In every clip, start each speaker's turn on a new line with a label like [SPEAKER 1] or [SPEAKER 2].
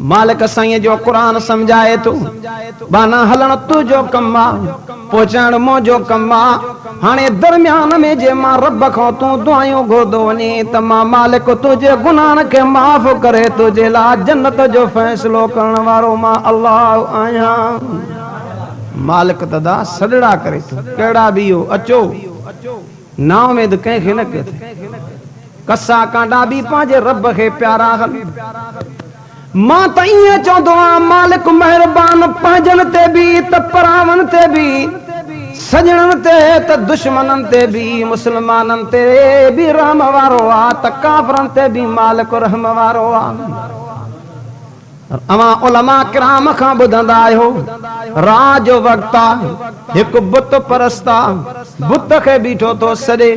[SPEAKER 1] مالڪ سائينء جو قرآن سمجهائي ٿو. ٻانهان هلڻ تو جو ڪم آ، پهچائڻ مون جو ڪم آ. هاڻي درميان ۾ جي مان رب کان تون دعايون گهردو وڃين ته مان مالڪ تنهنجي گناهن کي معاف ڪري تنهنجي لاء جنت جو فيصلو ڪرڻ وارو مان الله آهيان. مالڪ تدا سڏڙا ڪري ٿو، ڪهڙا به اهو، اچو! نااميد ڪنهن کي نه ڪيو ٿي. قصا ڪانڊا به پنهنجي رب کي پيارا آهن. مان ته ائين چوندو آهيان مالڪ مهربان پنهنجن تي به ته پراون تي به، سڄڻن تي ته دشمنن تي به، مسلمانن تي به رحم وارو آ ته ڪافرن تي به مالڪ رحم وارو آ. اوهان علماء ڪرام کان ٻڌندا آهيو، راء جو وقت آ، هڪ بت پرست آ، بت کي بيٺو ٿو سڏي.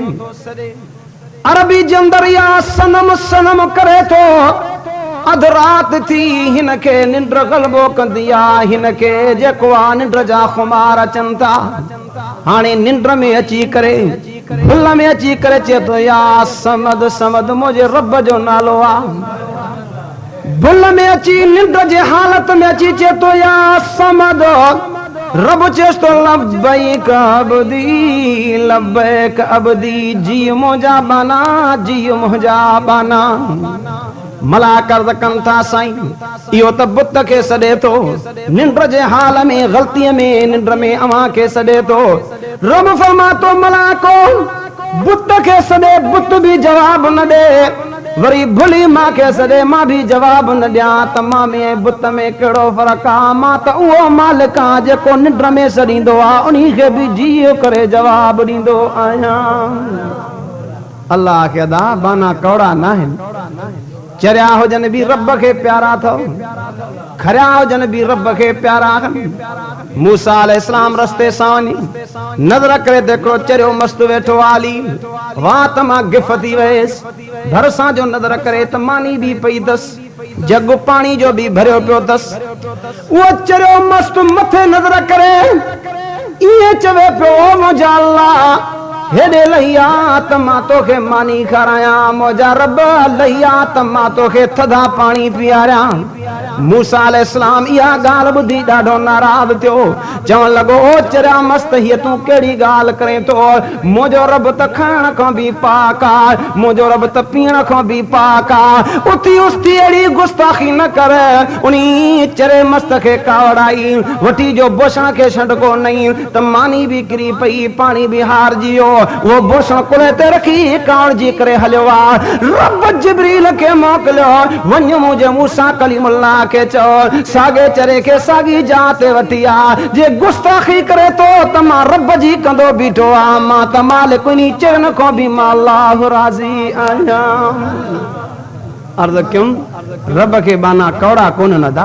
[SPEAKER 1] عربي جي اندر يا صنم صنم ڪري ٿو. اڌ رات ٿي، هن کي ننڊ غلبو ڪندي آ، هن کي جيڪو آ ننڊ جا خمار اچن ٿا. هاڻي ننڊ ۾ اچي ڪري، ڀل ۾ اچي ڪري چئي ٿو يا صمد صمد منهنجي رب جو نالو آ. ڀل ۾ اچي ننڊ جي حالت ۾ اچي چئي ٿو يا صمد رب چيس ٿو لبيڪ عبدي لبيڪ عبدي جيء منهنجا ٻانها جيء منهنجا ٻانها ملائڪ عرض ڪن ٿا سائين اهو ته بت کي سڏي ٿو ننڊ جي حال ۾ غلطي ۾ ننڊ ۾ اوهان کي سڏي ٿو رب فرمائي ٿو ملائڪو بت کي سڏي بت به جواب نه ڏي وري ڀلي مان کيس ڏي مان به جواب نه ڏيان ته مان ۾ ۽ بت ۾ ڪهڙو فرق آ؟ مان ته اهو مالڪ آهيان جيڪو ننڊ ۾ سڏيندو آ انهي کي به جيئي ڪري جواب ڏيندو آهيان. الله آکي ادا ٻانها ڪؤڙا ناهن چريا هجن به رب کي پيارا اٿئو کريا هجن به رب کي پيارا آهن موسيٰ عليه السلام رستي سان وڃي نظر ڪري ته هڪڙو چريو مست ويٺو آ علي وات مان گف ٿي ويس. ڀرسان جو نظر ڪري ته ماني به پئي دس، جڳ پاڻي جو به ڀريو پيو دس. اهو چريو مست مٿي نظر ڪري ائين چوي پيو، او منهنجا الله! هيڏي لهي آ ته مان توکي ماني کارايان، منهنجا رب! لهي آ ته مان توکي ٿڌا پاڻي پياريان. موسيٰ عليه السلام اها ڳالهه ٻڌي ڏاڍو ناراض ٿيو، چوڻ لڳو، او چريا مست! هيء تون ڪهڙي ڳالهه ڪرين ٿو؟ منهنجو رب ته کائڻ کان به پاڪ آهي، منهنجو رب ته پيئڻ کان به پاڪ آهي، اٿي اس ٿي اهڙي گستاخي نه ڪر! انهيء چريي مست کي ڪاوڙائي وٺي جو بوشڻ کي شنڊڪو نئين. ته ماني به ڪري پئي، پاڻي به هارجي ويو. اهو بوسڻ ڪلهي تي رکي ڪاوڙجي ڪري هليو آ. رب جبريل کي موڪليو، وڃ منهنجي موسيٰ ڪليم الله کي چئو، ساڳي چري کي ساڳي جاء تي وٺي آ. جي گستاخي ڪري ٿو ته مان رب جي ڪندو بيٺو آهيان، مان ته مالڪ انهي چرين کان به مان الله راضي آهيان. عرض ڪيم، رب کي ٻانها ڪوڙا ڪونهن ادا!